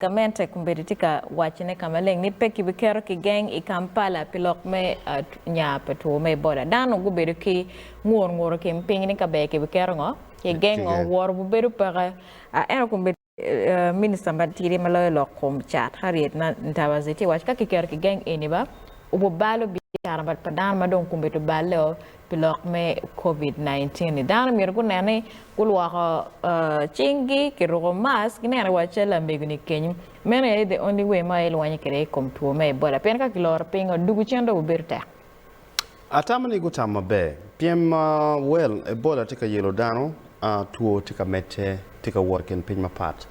Gamente kombeddi tye ka wacone ka maleng ni pe kibiketo kigeng i Kampala pi lok me nya pa two me Ebola. Dano gubedo ki ngur ngur i kin piny ni ka ber kibiketo ngo kigeng ngo woro bubedo peke. Ento kombeddi Minista matidi ma loyo lok kom cat Harriet Ntabazi tye waco ka kiketo kigeng eni ba obubalo biacara pa dano ma dong kombeddi oballe o. pi lok me Covid nineteen ni, dano myero gunen ni gulwoko cing gi, giruko mask, gineno wa cal lamego ni kenyo, meno aye the only way ma ilwonyo kwede i kom two me Ebola pien ka kiloro piny o dugu cen dong bi bedo tek. Atamo ni gutamo maber pien ma well Ebola tye ka yelo dano, two tye ka medde, tye ka wot i kin piny mapat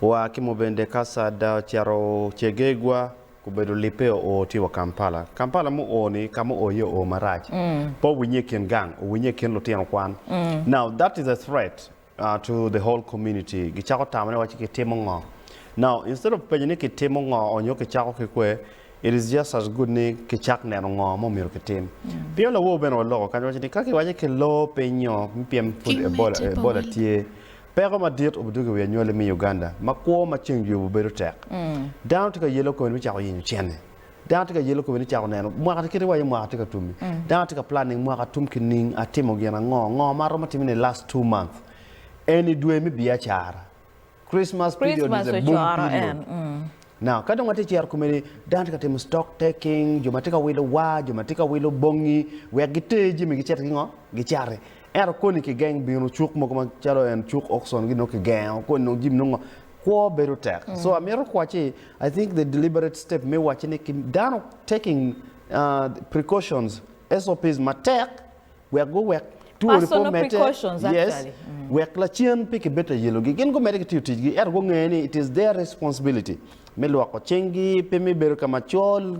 wa ki Mubende, Kassada, ocito Chegegwa, Gubedo lipe oo tye wa Kampala. Kampala mu oo ni ka mu oo iye oo marac. Pe owinye i kin gang, owinye i kin lutino kwan. Now that is a threat to the whole community. Gicako tamo ni waci kitimo ngo. Now instead of penyo ni kitimo ngo or nyo kicako ki kwe, it is just as good ni kicak neno ngo ma omyero kitim. Pingo lawor bene waloko kany waco ni ka kiwaco ki loo piny nyo me pyem pud Ebola tye, Peko madit obidwogo i wi anywali me Uganda ma kwo ma ceng juyubo bedo tek. Dano tye ka yelo kome me cako yenyo cente. Dano tye ka yelo kome ni cako neno mwaka kit iwaco mwaka tye ka tum-mi. Dano tye ka planning mwaka tum kining, atimo gin ango, ngo ma aromo timone i last two month. Eni dwe me biacara. Christmas period is a boom period. Now, ka dong watye ka cito kome-ni, dano tye ka timo stock taking, jo ma tye ka wilo war, jo ma tye ka wilo bongi wek giter jami gicit gingo? Gicati. Ento koni kigeng bino cuk mogo macalo en cuk auction gi nongo kigengo koni nongo jimi nongo kwo bedo tek. Mm. So amito kwaci I think the deliberate step me waci ni dano taking uh, precautions SOPs matek wek guwek tuwoni po mete. Yes. Mm. Wek lacen pe kibed ta yelogi. Gin gumede ki tiyo tijgi ento gungeyo ni it is their responsibility me lwoko cinggi pe me bedo ka macol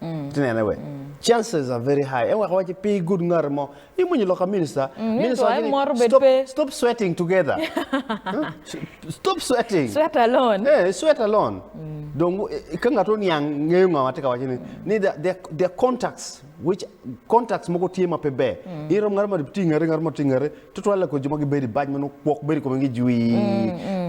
Iti nene wek chances are very high eweko waci pi good ngati mo i mony loka minister minister waci ni stop stop sweating together stop sweating sweat alone eh sweat alone dong ka ngat oniang ngeyo nga ma tye ka waci ni ni the contacts which contacts mogo tye ma pe ber irom ngat ma tye i ngete ngat ma tye i ngete Tutwal lakor jo ma gibedo i bac ma nongo kwok bedo i kome-gi jwi.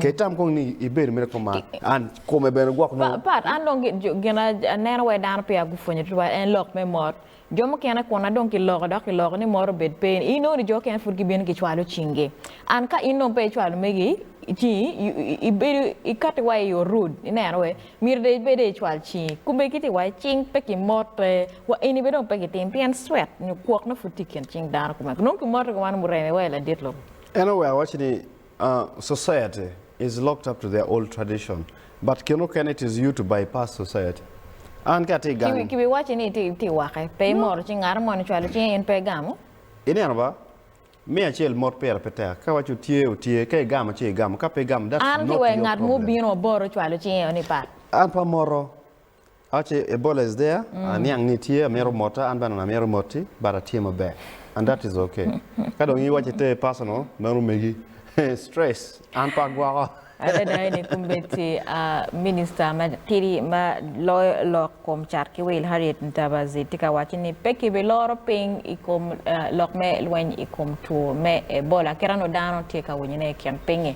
Ka itam kong ni ibedo mere kom man, an kome bene gwok nongo. Pat, an dong gin aneno wai dano peya gupwonyo tutwal en lok me mot. Jo mukene kun na dong kiloko dok kiloko ni mot obed pe, i nongo ni jo okene pud gibino gicwalo cinggi. An ka in dong pe icwalo megi cingi, ibedo ikatti wai i orud ineno wai Myero dong ibed aye icwal cingi. Kome kit iwaco cing pe kimote wa eni bene dong pe gitim pien cwet nyo kwok na pud tye i kin cing dano kumeno nongo kimote ki wan mureme wa i ladit lobo. En oweko waco ni, Society is locked up to their old tradition but kin okene it is you to bypass society. An ka atye gang. Ki biwaci ni itye wake pe imoro cing ngat mo ni cwalo cinge in pe igamo. Ineno ba? Me acel mot pire pe tek. Ka iwaco tye, otye. Ka igamo ci igamo. Ka pe igamo, that's An ki not wek your ngat mo problem. obino aboro cwalo cinge o ni pat. An pe amoto. Awaco ci Ebola is there, aniang ni tye, amito mota, an bene amito moti, but atye maber. And that is okay. Ka dong in iwaco iter personal, meno megi. Stress, an pe agwoko. Adada eni kombeddi a Minista ma tidi ma loyo lok kom cat ki wil Harriet Ntabazi tye ka waco ni pe ki bi loro piny i kom lok me lweny i kom two me Ebola kit anongo dano tye ka winyone i kin piny-ngi.